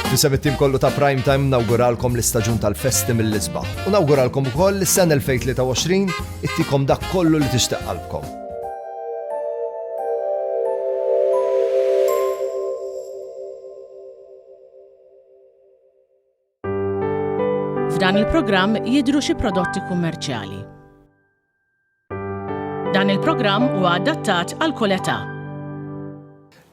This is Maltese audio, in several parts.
Fisem it-tim kollu ta' Prime Time nawguralkom l-istaġun tal-festi mill-isbaħ. U nawguralkom ukoll li s-sena 2023 ittikom dak kollu li tixtaq qalbkom. F'dan il-programm jidru xi prodotti kummerċjali. Dan il-programm huwa adattat għal kull età.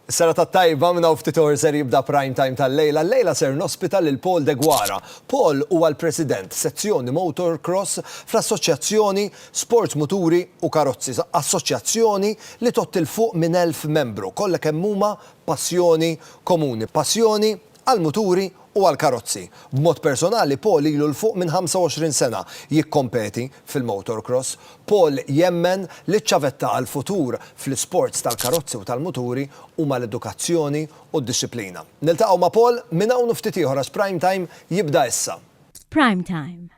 Sera ta' tajba minna ftit or ser jibda prime time tal-lejla. Lejla ser nospita lil Paul De Gwara. Paul huwa l-President sezzjoni Motorcross fl-Assoċjazzjoni Sports Muturi u Karozzi, assoċjazzjoni li totti l fuq minn elf membru, kollha kemm huma passjoni komuni, passjoni għall-muturi u għall-karozzi. B'mod personali Paul ilu 'l fuq minn 25 sena jikkompeti fil-motorcross. Paul jemmen li ċ-ċavetta għall-futur fl-isports tal-karozzi u tal-muturi huma l-edukazzjoni u d-dixxiplina. Niltaqgħu ma' Paul minn hawn u ftit ieħor għax Prime Time jibda issa. Prime Time,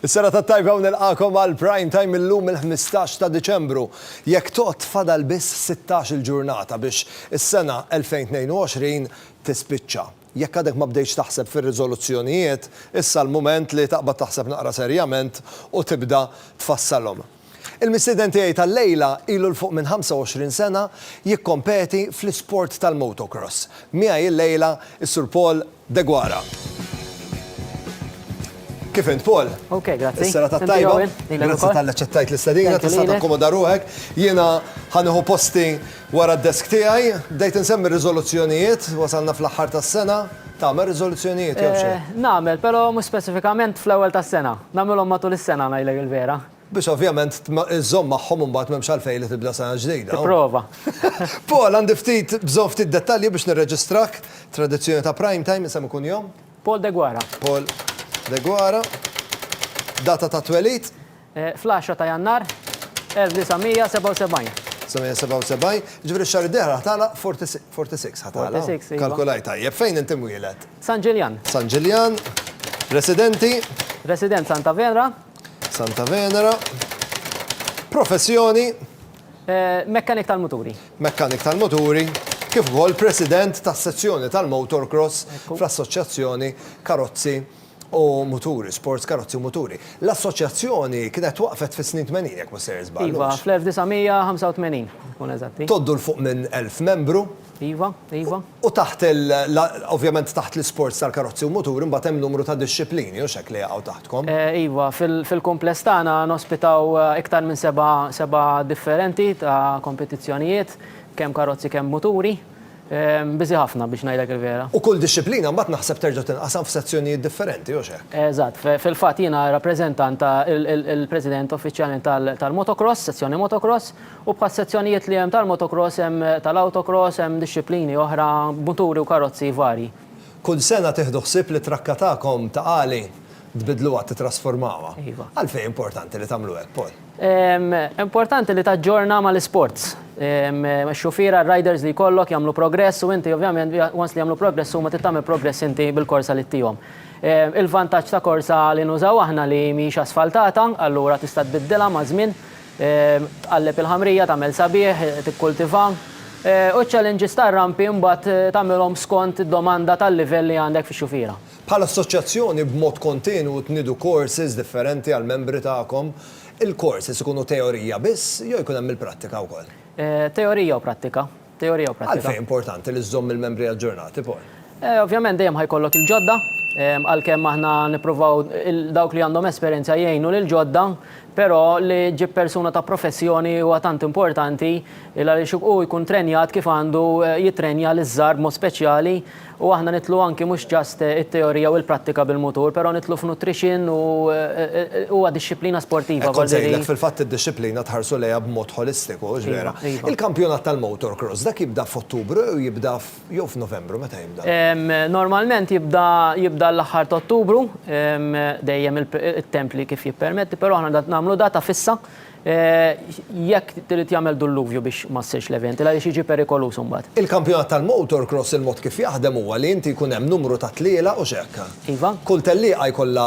Is-serata t-tajba u nilqagħkom għal Prime Time illum il-ħmistax ta' Diċembru. Jekk tgħodd fadal biss sittax-il ġurnata biex is-sena 2022 tispiċċa. Jekk għadek ma bdejtx taħseb fir-riżoluzzjonijiet, issa l-mument li taqbad taħseb naqra serjament u tibda tfassalhom. Il-mistieden tiegħi tal-lejla ilu 'l fuq minn 25 sena jikkompeti fl-isport tal-motocross. Miegħi l-lejla is-Sur Paul Deguara. Kif int, Paul? Ok, grazzi. Is-serata Inti, t-tajba. Owen, lilek Grazzi ukoll. tal-li ċettajt l-istedina, Thank you tista' lilek. takkomoda ruħek. Jiena ħanieħu posti wara d-desk tiegħi. Bdejt insemmi r-riżoluzzjonijiet, wasalna fl-aħħar tas-sena. Tagħmel riżoluzzjonijiet jew xejn? Eh, nagħmel, però mhux speċifikament fl-ewwel tas-sena. Nagħmilhom matul is-sena ngħidlek il-vera. Biex ovvjament żżomm magħhom imbagħad m'hemmx għalfejn li tibda sena ġdida. Tipprova. Paul, għandi ftit, bżonn ftit dettalji biex nirreġistrak. Tradizzjoni ta' Prime Time, isem u kunjom? Paul Deguara. Paul Deguara. Data ta' twelid? Fl-10 ta' Jannar 1977. 1977. Jiġifieri x-xahar id-dieħel ħa tagħlaq 46, 46 ħa tagħlaq. 46, iva. Kalkulajt tajjeb. Fejn inti mwieled? San Ġiljan. San Ġiljan. Residenti? Resident Santa Venra. Santa Venera. Professjoni? Mekkanik tal-muturi. Mekkanik tal-muturi, kif ukoll President tas-Sezzjoni tal-Motorcross fl-Assoċjazzjoni Karozzi u Muturi, Sports Karozzi u Muturi. L-assoċjazzjoni kienet waqfet fis-snin tmenin jekk mhux ser iżball. Iva, fl-1985 nkunu eżatti. Tgħoddu 'l fuq minn elf membru. Iva, iva. U taħt il, ovvjament taħt l-isports tal-karozzi u muturi imbagħad hemm numru ta' dixxiplini, hux hekk, li jaqgħu taħtkom? Iva, fil-kumpless tagħna nospitaw iktar minn seba' seba' differenti ta' kompetizzjonijiet, kemm karozzi kemm muturi. Biżi' ħafna biex ngħidlek il-vera. U kull dixxiplina mbagħad naħseb terġa' tinqasam f'sezzjonijiet differenti, hux hekk? Eżatt. Fil-fatt jiena rappreżentant, il-President uffiċjalment tal-motocross, sezzjoni motocross, U bħas-sezzjonijiet li hemm tal-motocross hemm tal-autocross, hemm dixxiplini oħra, muturi u karozzi varji. Kull sena tieħdu ħsieb li t-trakka tagħkom ta' għali tbiddluha, tittrasformawha. Iva. Għalfejn hi importanti li tagħmlu hekk, Paul? Importanti li taġġorna mal-isports. Ix-xufiera, r-riders li jkollok jagħmlu progress u inti ovvjament once li jagħmlu progress huma trid tagħmel progress inti bil-korsa li ttihom. Il-vantaġġ ta' korsa li nużaw aħna li mhijiex asfaltata, allura tista' tbiddilha maż-żmien. Tqalleb il-ħamrija, tagħmel sabiħ, tikkultiva. U ċ-challenges tar-rampi mbagħad tagħmilhom skont id-domanda tal-livell li għandek fix-xufiera. Bħala assoċjazzjoni b'mod kontinwu tniedu courses differenti għall-membri tagħkom. Il-courses ikunu teorija biss jew jkun hemm il-prattika wkoll? Teorija u prattika. Teorija u prattika. Għalfejn hi importanti li żżomm il-membri aġġornati, Paul? Ovvjament dejjem ħa jkollok il-ġodda, għalkemm aħna nippruvaw dawk li għandhom esperjenza jgħinu lill-ġodda, però li ġġib persuna ta' professjoni huwa tant importanti għaliex hu jkun trenjat kif għandu jittrenja liż-żgħar b'mod speċjali, U aħna nidħlu anki mhux just it-teorija u l-prattika bil-mutur, però nidħlu f'nutrition u huwa dixxiplina sportiva. Hekk kont se ngħidlek, fil-fatt id-dixxiplina tħarsu lejha b'mod ħolistiku, hux vera? Il-kampjonat tal-motor cross, dak jibda f'Ottubru jew jibda jew f'Novembru, meta jibda? Normalment jibda jibda l-aħħar ta' Ottubru, dejjem it-temp li kif jippermetti, però aħna nagħmlu data fissa, jekk irid jagħmel dulluvju biex ma ssirx l-event, għaliex jiġi perikoluż imbagħad. Il-kampjonat tal-motorcross il-mod kif jaħdem huwa li inti jkun hemm numru ta' tlielaq u hux hekk? Iva. Kull tellieqa jkollha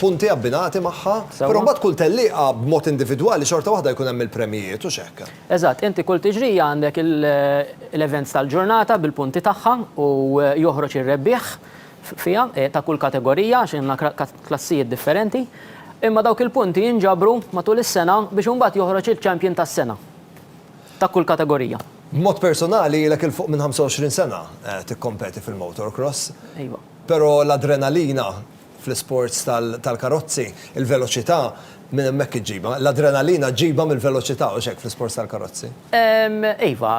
punti abbinati magħha, però mbagħad kull tellieqa b'mod individwali xorta waħda jkun hemm il-premjijiet, hux hekk? Eżatt, inti kull tiġrija għandek l-events tal-ġurnata bil-punti tagħha u joħroġ ir-rebbieħ fiha, ta' kull kategorija għax għandna klassijiet differenti, imma dawk il-punti jinġabru matul is-sena biex imbagħad joħroġ il-champion tas-sena ta' kull kategorija. B'mod personali ilek 'il fuq minn 25 sena tikkompeti fil-motorcross. Iva. Però l-adrenalina fl-isports tal-karozzi, il-veloċità minn hemmhekk iġġibha. L-adrenalina ġġibha mill-veloċità, hux hekk fl-isports tal-karozzi? Iva.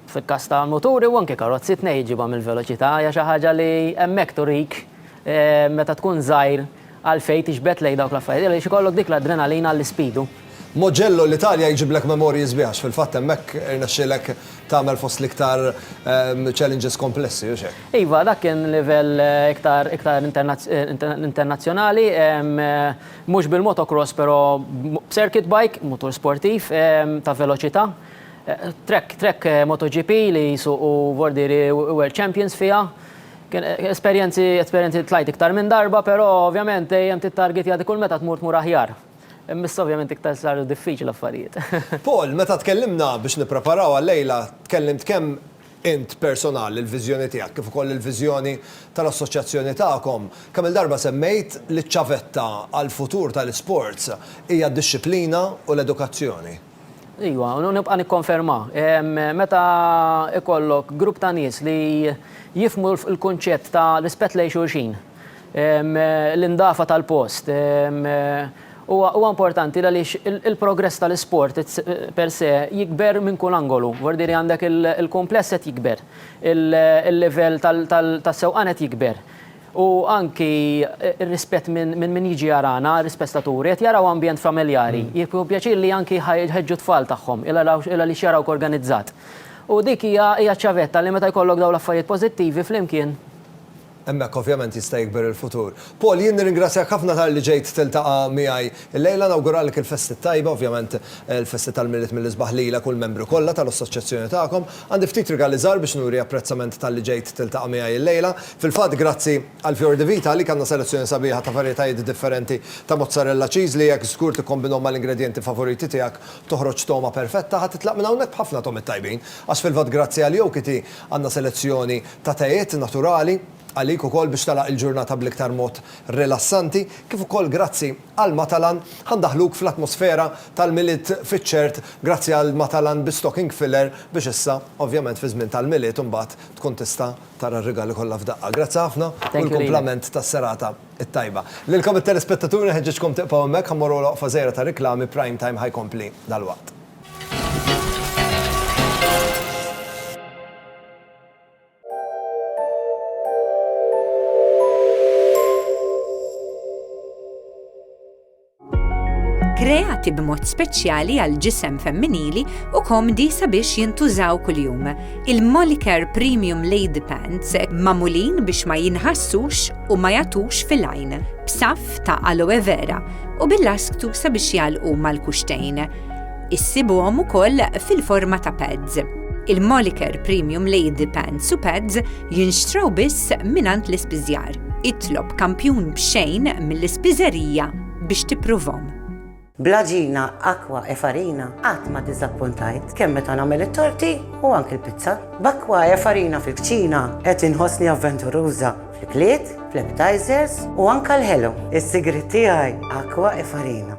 Fil-każ ta' muturi u anke karozzi tnej iġibha mill-veloċità hija xi ħaġa li hemmhekk turik meta tkun żgħir għalfejn tixbet lejn dawk l-affarijiet għaliex ikollok dik l-adrenalina għall-ispidu. Mugello l-Italja jġiblek memorji sbieħ għax fil-fatt hemmhekk irnexxielek tagħmel fost l-iktar challenges komplessi, hux hekk? Iva, dak kien livell iktar iktar internazzjonali, mhux bil-motocross però b'circuit bike, mutur sportiv ta' veloċità. Trek MotoGP li jsuqu vordieri World Champions fiha. Kien esperjenzi, esperjenzi tlajt iktar minn darba, però ovvjament dejjem tittargetja dik kull meta tmur tmur aħjar. Imma issa ovvjament iktar saru diffiċli l-affarijiet. Paul, meta tkellimna biex nippreparaw għal-lejla, tkellimt kemm int personal, il-viżjoni tiegħek, kif ukoll il-viżjoni tal-assoċjazzjoni tagħkom. Kemm-il darba semmejt li ċ-ċavetta għall-futur tal-isports hija d-dixxiplina u l-edukazzjoni. Iva, u nibqa' nikkonferma. Meta ikollok grupp ta' nies li jifhmu l-kunċett ta' rispett lejn xulxin, l-indafa tal-post, huwa importanti għaliex il-progress tal-isport per se jikber minn kull angolu. Vordir għandek il-kumpless qed jikber, il-livell tas-sewqan qed jikber. u anki r-rispett minn min jiġi jarana, rispett staturi, qed jaraw ambjent familjari, jieħu pjaċir li anki jħeġġu t-tfal tagħhom għaliex jarawk organizzat. U dik hija ċ-ċavetta li meta jkollok dawn l-affarijiet pożittivi flimkien. Hemmhekk ovvjament jista' jikber il-futur. Paul, jien nirringrazzjak ħafna talli ġejt tiltaqa' miegħi llejla. Nawguralek il-festi t-tajba, ovvjament il-festi tal-Milied mill-isbaħ lilek u l-membri kollha tal-Assoċjazzjoni tagħkom. Għandi ftit rigali żgħar biex nuri apprezzament talli ġejt tiltaqa' miegħi llejla. Fil-fatt, grazzi għal Fior di Vita, għalik għandna selezzjoni sabiħa ta' varjetajiet differenti ta' mozzarella cheese li jekk żgur tikkombinhom mal-ingredjenti favoriti tiegħek toħroġ togħma perfetta. Ħa titlaq minn hawnhekk b'ħafna togħmiet tajbin. Għax fil-fatt grazzi għal Yoki Tea għandna selezzjoni ta' tejiet naturali għalik ukoll biex tagħlaq il-ġurnata bl-iktar mod rilassanti. Kif ukoll grazzi għal Matalan ħa ndaħħluk fl-atmosfera tal-Milied fiċ-ċert grazzi għal Matalan bi stocking filler biex issa, ovvjament fiż-żmien tal-Milied imbagħad tkun tista' Tara r-rigali kollha f'daqqa. Grazzi ħafna u l-kumplament tas-serata t-tajba. Lilkom it-telespettaturi nħeġġiġkom tibqgħu hemmhekk ħa mmorru għal waqfa żgħira ta' riklami, Prime Time ħa jkompli dalwaqt. kreati b'mod speċjali għal ġisem femminili u komdi sabiex jintużaw kuljum. Il-Molicare Premium Lady Pants mamulin biex ma jinħassux u ma jatux fil-għajn, b'saf ta' aloe vera u bil-lasktu sabiex jalqu mal-kuxtejn. Issibuhom ukoll fil-forma ta' pads. Il-Molicare Premium Lady Pants u Pads Jinxtraw biss mingħand l-ispiżjar. Itlob kampjun b'xejn mill-ispiżerija biex tippruvhom. Bl-għaġina, akwa e farina qatt ma diżappuntajt, kemm meta nagħmel it-torti u anki l-pizza. B'akwa e farina fil-kċina qed inħossni avventuruża fl-ikliet, fl-appetizers u anke l-ħelu. Is-sigriet tiegħi akwa e farina.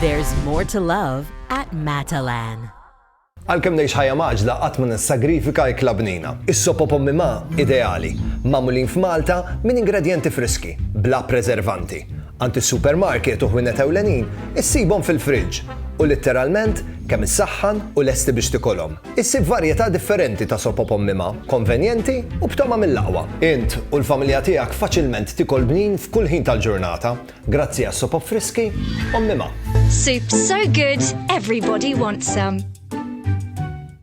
There's more to love at Matalan. Għalkemm ngħix ħajja maġla qatt ma nissagrifika ikla bnina. Is-sopo pommi ma ideali, magħmulin f'Malta minn ingredjenti friski, bla preservanti. Għand is-supermarket u ħwienet ewlenin issibhom fil-friġġ u litteralment kemm issaħħan u lesti biex tikolhom. Issib varjetà differenti ta' sopop ommima, konvenjenti u b'togħma mill-aqwa. Int u l-familja tiegħek faċilment tikol bnin f'kull ħin tal-ġurnata grazzi għas-sopop friski ommima. Soup so good everybody wants some.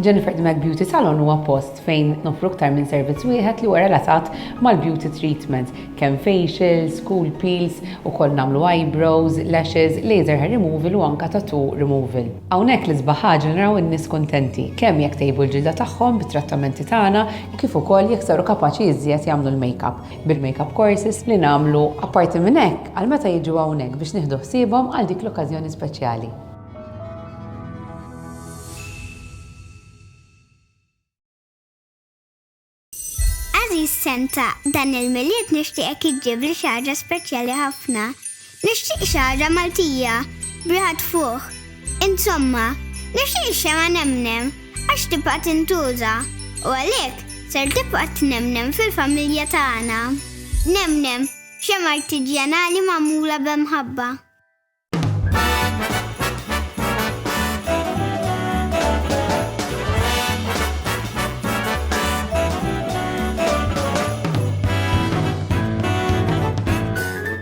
Jennifer the Mac Beauty Salon huwa post fejn noffru aktar minn servizz wieħed li huwa relatat mal-beauty treatment, kemm facials, cool peels, ukoll nagħmlu eyebrows, lashes, laser hair removal u anka tattoo removal. Hawnhekk l-isbaħ ħaġa li naraw in-nies kuntenti, kemm jekk tejbu l-ġilda tagħhom bit-trattamenti tagħna kif ukoll jekk saru kapaċi iżjed jagħmlu l-makeup. bil-makeup courses li nagħmlu. Apparti minn hekk, għal meta jiġu hawnhekk biex nieħdu ħsiebhom għal dik l-okkażjoni speċjali. Għażiż Santa, dan il-Milied nixtieqek iġġibli xi ħaġa speċjali ħafna. Nixtieq xagħra Maltija b'riħa tfuħ. Insomma, nixtieq ix-xemgħa nemnem għax tibqa' tintuża u għalhekk ser tibqa' tnemnem fil-familja tagħna. Nemnem, xemgħa artiġjanali magħmula b'mħabba.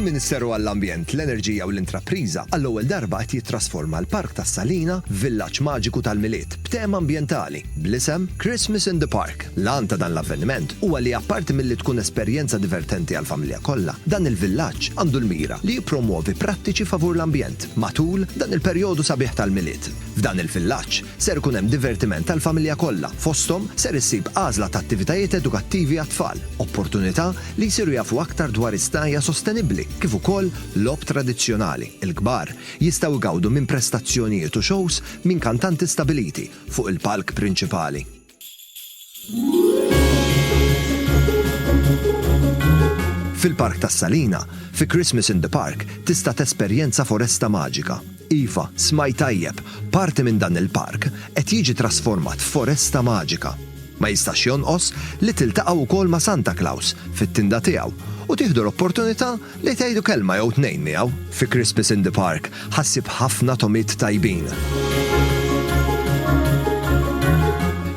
Il-Ministeru għall-Ambjent, l-Enerġija u l-Intrapriża għall-ewwel darba qed jittrasforma l-Park tas-Salina f'villaġġ maġiku tal-Milied b'tema ambjentali. bl-isem Christmas in the Park. L-għan ta' dan l-avveniment huwa li apparti milli tkun esperjenza divertenti għall-familja kollha, dan il-villaġġ għandu l-mira li jippromwovi prattiċi favur l-ambjent matul dan il-perjodu sabiħ tal-Milied. F'dan il-villaġġ ser ikun hemm divertiment għall-familja kollha, fosthom ser issib għażla ta' attivitajiet edukattivi għat-tfal, opportunità li jsiru jafu aktar dwar is-snajja' sostenibbli kif ukoll logħob tradizzjonali, il-kbar jistgħu jgawdu minn prestazzjonijiet u xows minn kantanti stabiliti, fuq il-palk prinċipali. Fil-Park tas-Salina, fi Christmas in the Park tista' tesperjenza foresta maġika. Iva, smajt tajjeb, parti minn dan il-park qed jiġi trasformat f'foresta maġika. Ma jistax jonqos li tiltaqgħu wkoll ma' Santa Claus fit-tinda tiegħu u tieħdu l-opportunità Li tgħidu kelma jew tnejn miegħu, fi Christmas in the Park ħa ssib ħafna togħmiet tajbin.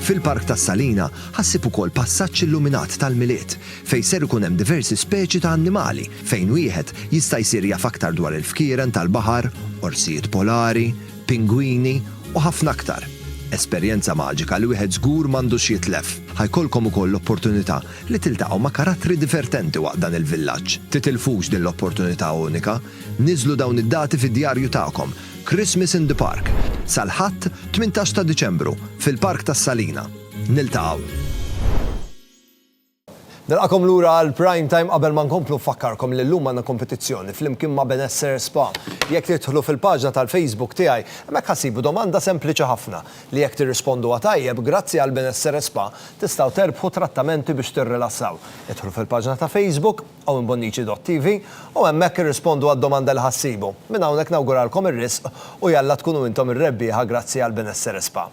Fil-Park tas-Salina ħa ssib ukoll passaġġ illuminat tal-Milied fejn ser ikun hemm diversi speċi ta' annimali fejn wieħed jista' jsir jaf aktar dwar il-fkieren tal-baħar, orsijiet polari, pingwini u ħafna aktar. Esperjenza maġika li wieħed żgur m'għandux jitlef. Ħa jkollkom ukoll l-opportunità li tiltaqgħu ma' karattri divertenti waqt dan il-villaġġ. Titilfux din l-opportunità unika. Niżżlu dawn id-dati fid-djarju tagħkom, Christmas in the Park, sal-Ħadd, 18 ta' Diċembru, fil-Park tas-Salina. Niltaqgħu! Nilqagħkom lura għal Prime Time qabel ma nkomplu nfakkarkom li llum għandna kompetizzjoni flimkien ma' Benessere Spa. Jekk tidħlu fil-paġna tal-Facebook tiegħi, hemmhekk ħa ssibu domanda sempliċi ħafna. li jekk tirrisponduha tajjeb, grazzi għal Benessere Spa, tistgħu terbħu trattamenti biex tirrilassaw. Idħlu fil-paġna ta' Facebook, owenbonnici.tv, u hemmhekk irrispondu għad-domanda li ħa ssibu. Minn hawnhekk nawguralkom ir-risq u jalla tkunu intom ir-rebbieħa grazzi għal Benessere Spa.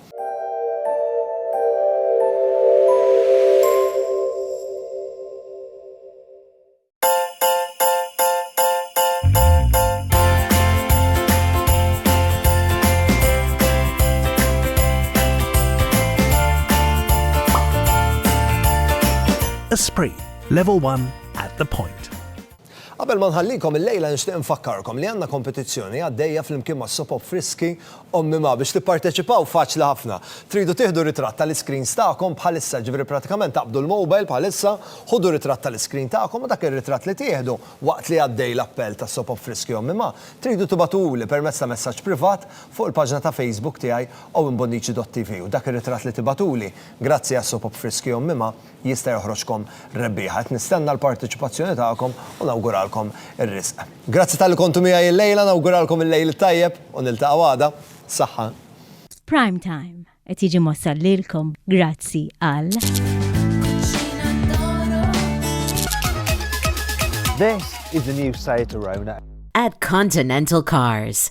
Esprit, level 1 at the point. Qabel ma nħallikom il-lejla nixtieq nfakkarkom li għandna kompetizzjoni għaddejja flimkien ma' Sopop Friski Ommi Ma biex tipparteċipaw faċli ħafna. Tridu tieħdu ritratt tal-iscreens tagħkom bħalissa, jiġifieri pratikament taqbdu l-mobile bħalissa, ħudu ritratt tal-iscreen tagħkom u dak ir-ritratt li tieħdu waqt li għaddej l-appell ta' Sop Affriski Ommi Ma, tridu tibagħtuli permezz ta' messaġġ privat fuq il-paġna ta' Facebook tiegħi Owen Bonnici dott TV u dak ir-ritratt li tibagħtuli, grazzi għas-Sop Affriski Ommi Ma, jista' joħroġkom rebbieħa. Qed nistenna l-parteċipazzjoni tagħkom u nawguralkom ir-riżq. Grazzi talli kontu miegħi illejla, nawguralkom il-lejl it-tajjeb u niltaqgħu għada. Saħħa. Prime Time qed jiġi mwassal lilkom grazzi għal. This is the new Seat Arona. At Continental Cars.